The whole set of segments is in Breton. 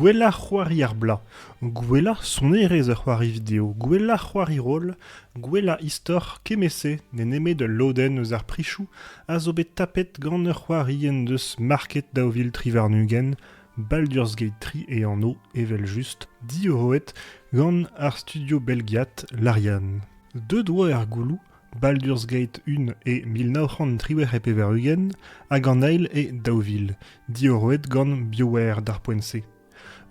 Gwellañ c'hoari ar bloaz, gwellañ sonerezh ur c'hoari video, gwellañ c'hoari roll, gwellañ istor kement-se n'eo nemet ul lodenn eus ar prichoù a zo bet tapet gant ur c'hoari en deus market daou vil tri warn-ugent Baldur's-Gate 3 e anv evel-just diorroet gant ar studio belgiat Larian. Deuet oa er gouloù Baldur's Gate 1 e mil nav c'hant triwec'h e pevar-ugent hag an eil e daou vil, diorroet gant BioWare d'ar poent-se.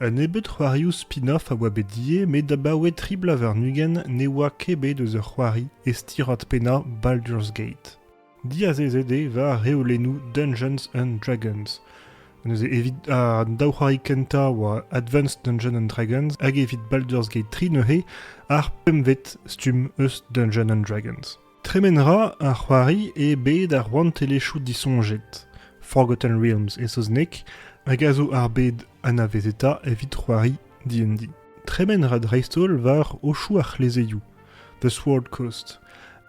Un nebeud c'hoarioù spin-off a oa bet ivez, met abaoe tri bloaz warn-ugent ne oa ket bet eus ur c'hoari e stirad pennañ Baldur's Gate. Diazezet eo war reolennoù Dungeons and Dragons. Neuze evit an daou c'hoari kentañ oa Advanced Dungeons and Dragons hag evit Baldur's Gate 3 neuze ar pempvet stumm eus Dungeons and Dragons. Tremen ra ar c'hoari eo bet ar rouantelezhioù disoñjet. Forgotten Realms e saozneg, hag a zo ar bed anavezetañ evit c'hoari D&D. Tremen ra dreist-holl war ochoù ar c'hlezeioù. Deus Word-Cost.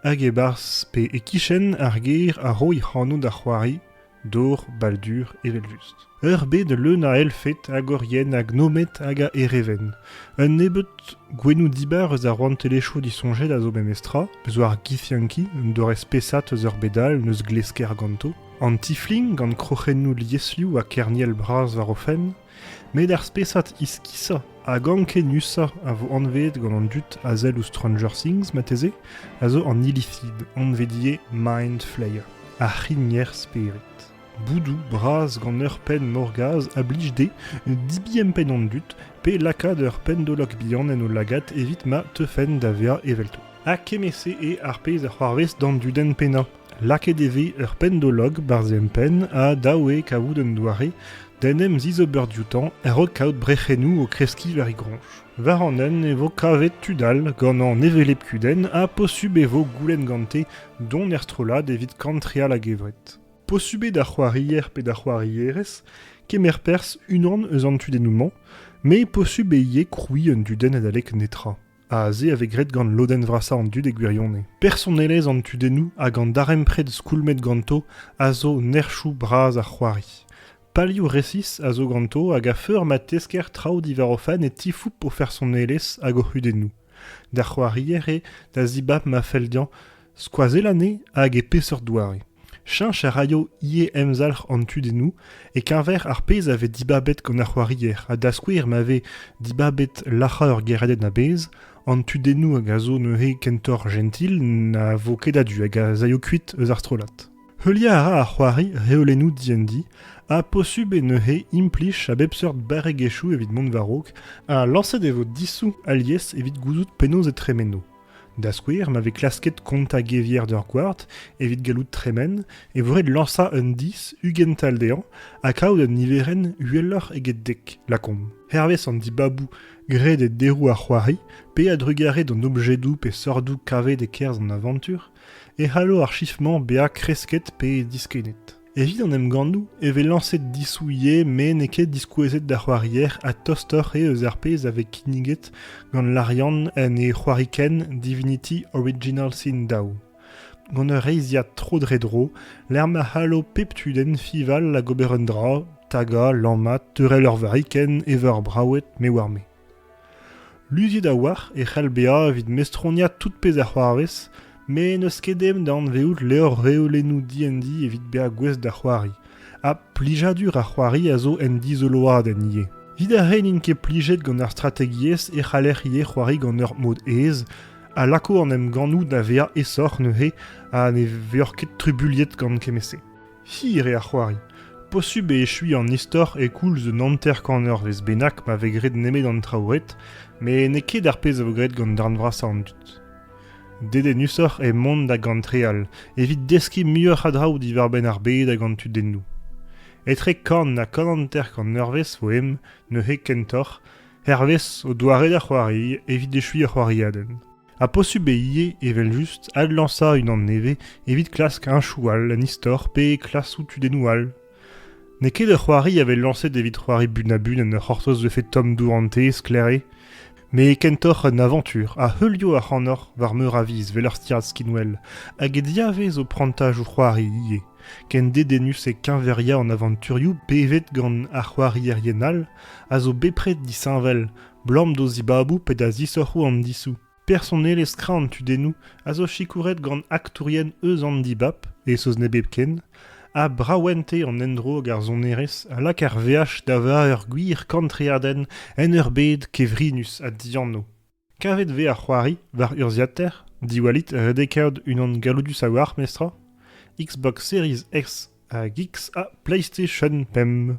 Hag e-barzh pe e-kichen ar gêr a roy anv da c'hoari Dor Baldur eveljust. Ur bed leun a elfed hag orienn ha gnomed hag a erevenn. Un nebeud gouennoù dibar eus ar rouantelezhioù disoñjet a zo memestra, eus ar Githianki, un doare spesat eus ur bed all n'eus glesker ganto, an tiflin gant kroc'hennoù lieslioù ha kerniel bras war o fenn, met ar spesad iskisañ hag ankenusañ a vo anveet gant an dud a sell ouzh Stranger Things marteze a zo an ilislid anvet Mind Flayer ar c'higner spered. Boudoù bras gant ur penn morgaz a blij dezhe dibempent an dud pe lakaat ur pendolok bihan en o lagad evit ma teufen da vezañ evelto. Ha kement-se eo ar pezh a c'hoarvez d'an dudenn pennañ. Lakaet e vez ur pendolog barzh empenn ha dav eo kavout un doare d'en em zizober dioutañ a-raok kaout brec'hennoù o kreskiñ war e groñj. War an hent e vo kavet tud all gant an hevelep kudenn ha posubl e vo goulenn gante dont er strollad evit kantreal a-gevret. Posubl eo d'ar c'hoarier pe d'ar c'hoarierez kemer perzh unan eus an tudennoù-mañ, met posubl eo ivez krouiñ un dudenn adalek netra. Aze a vez graet gant lodenn vrasañ an dud e gwirionez. Personelezh an tudennoù hag an darempred skoulmet ganto a zo nerchoù bras ar c'hoari. Palioù resis a zo ganto hag a feur ma tesker traoù diwar o fenn e tifoup o fersonelezh hag o c'hudennoù. D'ar c'hoarier eo da zibab ma fell dezhañ Skoazell anezhe hag e peseurt doare. Cheñch a raio ivez emzalc'h an tudennoù e-keñver ar pezh a vez dibabet gant ar c'hoarier ha da skouer ma vez dibabet lac'hañ ur gêriadenn a-bezh, an tudennoù hag a zo neuze kentoc'h jentil na vo ket a-du hag az aio kuit eus ar strollad. Heuliañ a ra ar c'hoari reolennoù diendi ha posubl eo neuze implij a bep seurt barregezhioù evit mont war-raok ha lañset e vo disoù alies evit gouzout penaos e tremeno. Da skouer, ma vez klasket kontañ gevier d'ur gward evit gallout tremen, e vo ret lañsañ un dis ugent all dezhañ ha kaout un niverenn uheloc'h eget dek, lakaomp. Hervez an dibaboù graet e deroù ar c'hoari, pe a-drugarez d'an objedoù pe seurdoù kavet e-kerzh an avantur, e c'hallo ar chif-mañ bezañ kresket pe diskennet. Evit an emgannoù e vez lañset disouilh met n'eo ket diskouezet d'ar c'hoarier ha tostoc'h eo eus ar pezh a vez kinniget gant Larian en e c'hoarikenn Divinity Original Sin Dao. Gant ur reizhiad tro-dre-dro lec'h ma c'hallo pep tudenn fiñval hag ober un dra, tagañ, lammat, teurel ur varikenn, evañ ur braoued, me oar-me. Luziet a-walc'h e c'hell bezañ evit mestroniañ tout pezh a c'hoarvez met n'eus ket aem da anvezout levr-reolennoù diendi evit bezañ gouest da c'hoari, ha plijadur ar c'hoari a zo en dizoloadenn ivez. Evit ar re n'int ket plijet gant ar strategiezh e c'haller ivez c'hoari gant ur mod aes, a lako an emgannoù da vezañ aesoc'h neuze ha ne vezac'h ket trubuliet gant kement-se. Hir eo ar c'hoari. Posubl eo echuiñ an istor e-koulz un hanter-kanervezh bennak ma vez graet nemet an traoù ret, met n'eo ket ar pezh a vo graet gant darn vrasañ an dud. Dedennusoc'h eo mont da gantreal, evit deskiñ muioc'h a draoù diwar-benn ar bed hag an tudennoù. Etre kan ha kananter-kanervezh vo em, neuze kentoc'h, hervez o doare da c'hoari evit echuiñ ur c'hoariadenn. Ha posubl eo ivez, evel-just, adlañsañ unan nevez evit klask heñchoù all en istor pe klasoù tudennoù all. N'eo ket ur c'hoari a vez lañset evit c'hoari bun-ha-bun en ur c'hortoz vefe tomm dourante, sklaere, met kentoc'h un avantur a heulio ac'hanoc'h war meur a viz 'vel ur stirad skinwell, hag diavez o prantaj o c'hoari ivez, ken dedennus e keñveriañ an avanturioù bevet gant ar c'hoarierien all a zo bepred disheñvel, 'Blam d'o zibaboù pe da zisoc'hoù an disoù. Personelezh kra an tudennoù a zo sikouret gant aktourien eus an dibab, e saozneg hepken, ha braouente an endro hag ar sonerezh a lak ar veaj da vezañ ur gwir kantreadenn en ur bed kevrinus ha dianv. Kavet vez ar c'hoari war urzhiataer, diwallit redekaat unan galloudus a-walc'h, mestr. Xbox Series X hag X ha PlayStation 5.